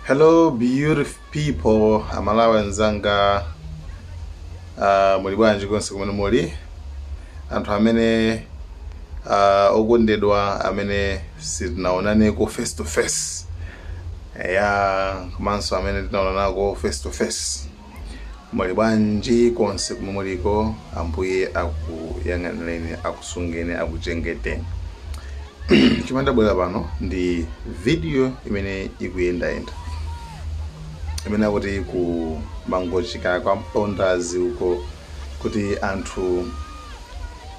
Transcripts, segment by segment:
Hello beautiful people, aMalawi anzanga uh, muli bwanji konse kumene muli anthu amene uh, okondedwa amene sitinaonaneko face to face ya komanso amene tinaonanako face to face Muli bwanji konse komwe muliko? Ambuye akuyang'anireni, akusungeni, akuchengeteni. Chomwe ndabwera pano ndi video imene ikuyendayenda imene akuti ku Mangochi kwa Mpondasi uko kuti anthu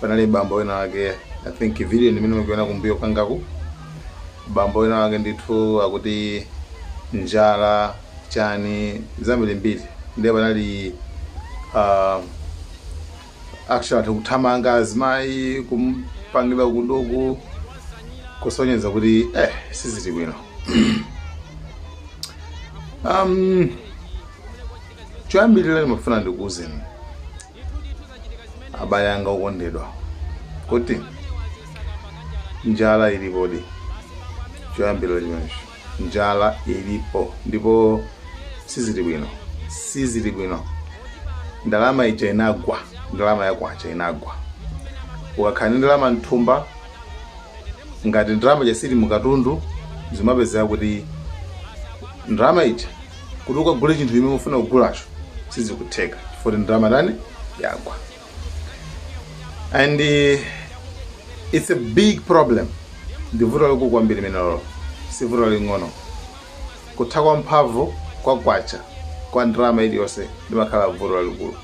panali bambo wina wake I think video ndi imene mukuiona kumbuyo kwangaku bambo wina wake ndithu akuti njala chani zambirimbiri ndiye panali ah, actually kuthamanga azimayi kumpangira kuduku kusonyeza kuti eh sizili bwino um, choyambirira ndimafuna ndikuuzeni abale anga okondedwa kuti njala ilipodi choyambirira chimenecho njala ilipo ndipo sizili bwino sizili bwino ndalama ija inagwa ndalama ya kwacha inagwa ukakhala ndi ndalama mthumba ngati ndalama ija siili mukatundu zimapezeka kuti ndalama ija kuti ukagule chinthu chimene ufuna kugulacho sizikutheka chifukwa ndalama tani yagwa and uh, it's a big problem ndi vuto lalikulu kwambiri limenelo si vuto laling'ono kutha kwa mphamvu kwa kwacha kwa ndalama iliyonse limakhala vuto lalikulu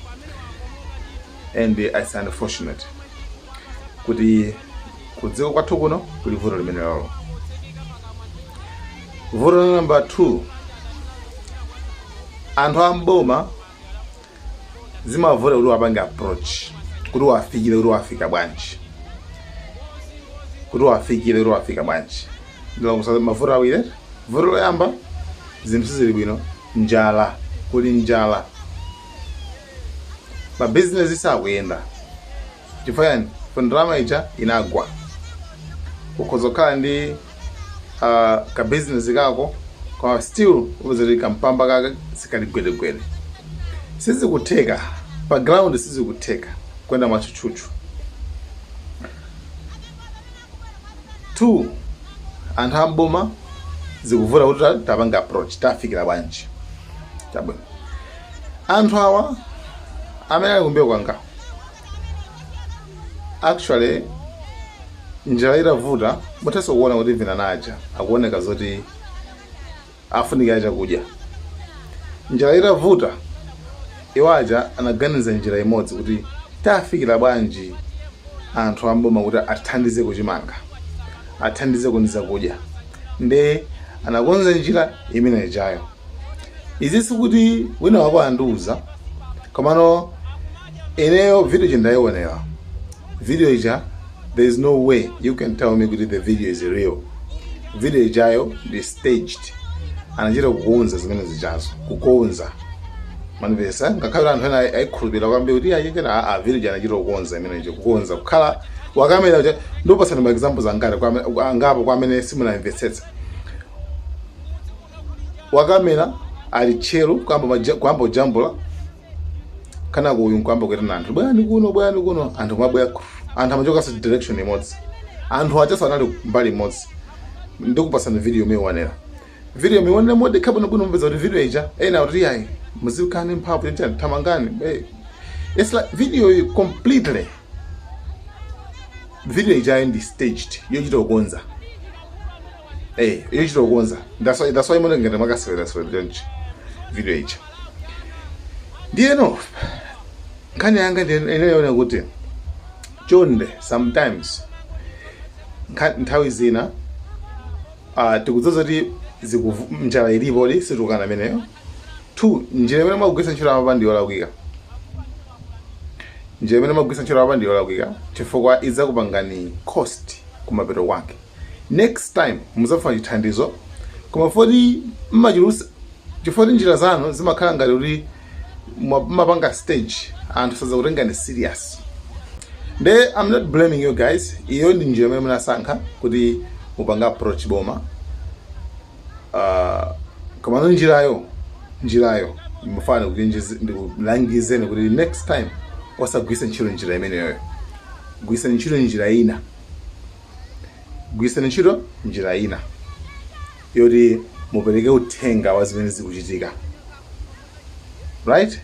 and uh, it's unfortunate kuti kudziko kwathu kuno kuli vuto limenelo vuto la number 2 anthu a m'boma zimavuta kuti wapange approach kuti wafikire kuti wafika bwanji kuti wafikire kuti wafika bwanji ndalongosola mavuto awiri vuto loyamba zinthu sizili bwino njala kuli njala mabizinesi sakuyenda chifukwa yani chifukwa ndalama ija inagwa ukhoza kukhala ndi uh, ka business kako koma still upeza kuti kampamba kake sikali gwedegwede sizikutheka pa ground sizikutheka kuyenda mwachuchuchu two anthu a m'boma zikuvuta kuti ta- tapanga approach tafikira bwanji chabwino anthu awa amene ali kumbuyo kwangawo actually njala itavuta muthanso kuona kuti vinawo aja akuoneka zoti afunikira chakudya njala itavuta iwo aja anaganiza njira imodzi kuti tafikira bwanji anthu amboma kuti athandize kuchimanga athandize ku ndi zakudya nde anakonza njira imene ijayo izi sikuti wina wako andiuza komano ineyo video ija ndayionera video ija there is no way you can tell me kuti the video is real video ijayo ndi staged anachita kukonza zimene zijazo kukonza mwanipeza ngakhale anthu ena ayikhulupirira kwambiri kuti ayikana video ija anachita kukonza imene ija kukonza kukhala wakamera uja ndikupatsani ma examples angati kwa ame- angapo kwa amene simunamvetsetsa wakamera ali tchero kuyamba maja- kuyamba kujambula kenako uyu nkuyamba kuitana anthu bwerani kuno bwerani kuno anthu kumabwera anthu amachoka same direction imodzi anthu ajanso anali mbali imodzi ndikupatsani video muionere video muionere modekha bwino bwino mupeza kuti video ija ena kuti ayi muzikane mphamvu chachani thamangani eh. it's like video iyi completely video ija ndi staged yochita kukonza eh yochita kukonza that's why that's why mmene ngakhale mukasewera sewera chonchi video ija ndiyeno nkhani yanga ine ndiyoona kuti chonde sometimes nkha- nthawi zina uh, tikudziwa kuti zikuvu- njala ilipodi sitikukana imeneyo two njira imene mwagwiritsa ntchito apa ndi yolakwika njira imene mwagwiritsa ntchito apa ndi yolakwika chifukwa idzakupangani cost kumapeto kwake next time muzafuna chithandizo koma poti mmachulutsa chifukwa choti njira zanu zimakhala ngati kuti mwa- mmapanga stage anthu sazakutengani serious nde i'm not blaming you guys iyo ndi njira imene munasankha kuti mupange approach boma Ah, komano njirayo njirayo ndimafuna ndikulangizeni kuti next time osagwiritsa ntchito njira imeneyoyo gwiritsani ntchito njira ina gwiritsani ntchito njira ina yoti mupereke uthenga wa zimene zikuchitika right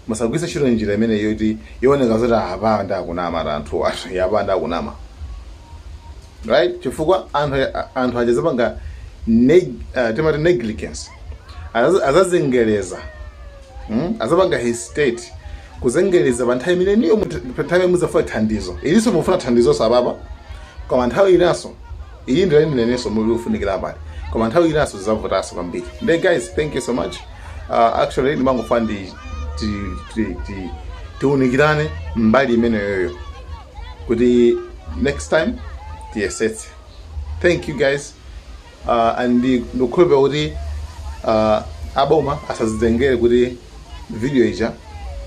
musagwiritse ntchito njira imeneyi yoti yooneka zoti apa ndi akunama ati anthu athuwa apa ndi akunama right chifukwa anthu anthu aja azapanga neg, uh, timati negligence Azazi- azazengereza mm? azapanga hesitate kuzengereza pa nthawi imeneyo mut- pa nthawi imene muzafuna thandizo ilinso mufuna thandizonso apapa koma nthawi inanso idzafika inanso mudzafunikira apati koma nthawi inanso zizavutanso kwambiri nde guys thank you so much uh, actually ndimangofuna ndi ti- ti- ti- tiunikirane mbali imeneyoyo kuti next time tiyesetse thank you guys uh, and ndikukhulupira kuti uh, aboma asazitengere kuti video ija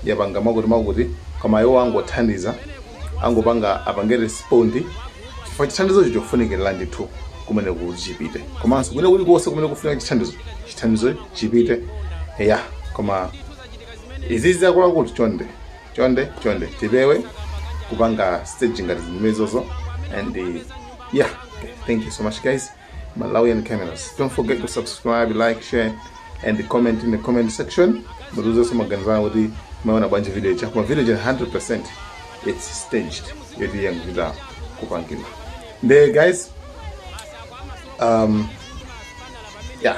yapanga makuti makuti koma iwo angothandiza angopanga apange respond chifukwa chithandizocho chofunikira ndithu kumene kuchipite komanso kumene kuli konse kumene kufunika chithandizo chithandizo chipite ya koma izizi zakulakuti chonde chonde chonde tipewe kupanga stage ngati zimenezozo and yeah thank you so much guys malawian cameras don't forget to subscribe like share and comment in the comment section mutiuzenso maganizo anu kuti mwaiona bwanji video ija koma video ija 100% it's staged yoti yangochita kupangidwa nde guys um, yeah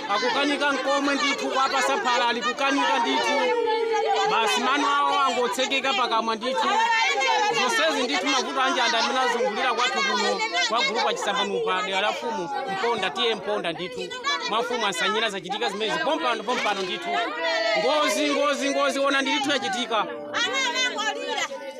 akukanika nkomwe ndithu kwapasa phala ali kukanika ndithu basi mano awo angotsekeka pakamwa ndithu zonsezi ndithu mavuto a njala amene azungulira kwathu kuno kwa gulupu achisambanopa dera la mfumu mponda TA mponda ndithu mwa mfumu ansanyira zachitika zimenezi pompano pompano ndithu ngozi ngozi ngozi ona ndithu yachitika Ana anangolira.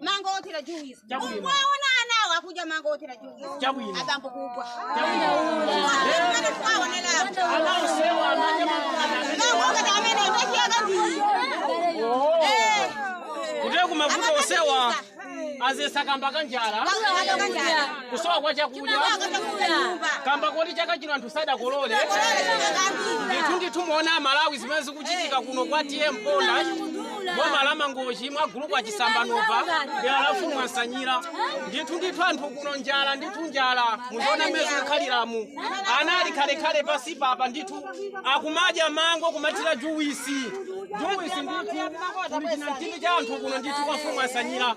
mango othira juice mukuwaona anawo akudya mango othira juice Chabwino. abambo kubwa Amene twaonera apo. ana onsewa akumadya Mango ngati amene ndachiyaka ndiyi Eh. kutereku mavuto onsewa adzetsa kamba ka njala kusowa kwa chakudya kamba koti chaka chino anthu sadakolole ndithu ndithu muone amalawi zimene zikuchitika kuno kwa TA mponda boma la mangochi mwa gulupu achisambanopa dera la mfumu ansanyira ndithu ndithu anthu kuno njala ndithu njala muziona mmene zikukhaliramu ana ali khalekhale pansi apapa ndithu akumadya mango kumathira juwisi juwisi ndithu kuli chinamtindi cha anthu kuno ndithu kwa mfumu ansanyira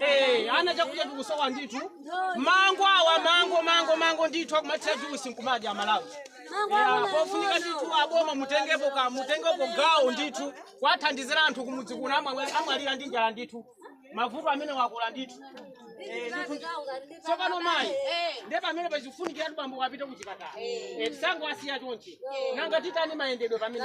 Eh, ana chakudya chikusowa ndithu mango awa mango mango mango ndithu akumathira juisi nkumadya amalawi Yeah, pofunika ndithu aboma mutengepo ka mutengepo gawo ndithu kuwathandizira anthu kumudzi kuno amwe- amwalira ndi njala ndithu mavuto amenewa akula ndithu Eh, ndithu tsopano mayi ndiye pamene pakufunikiratu bambo wapita kuchipatala Eh, tisangowasiya chonchi nanga titani mayendedwe pamene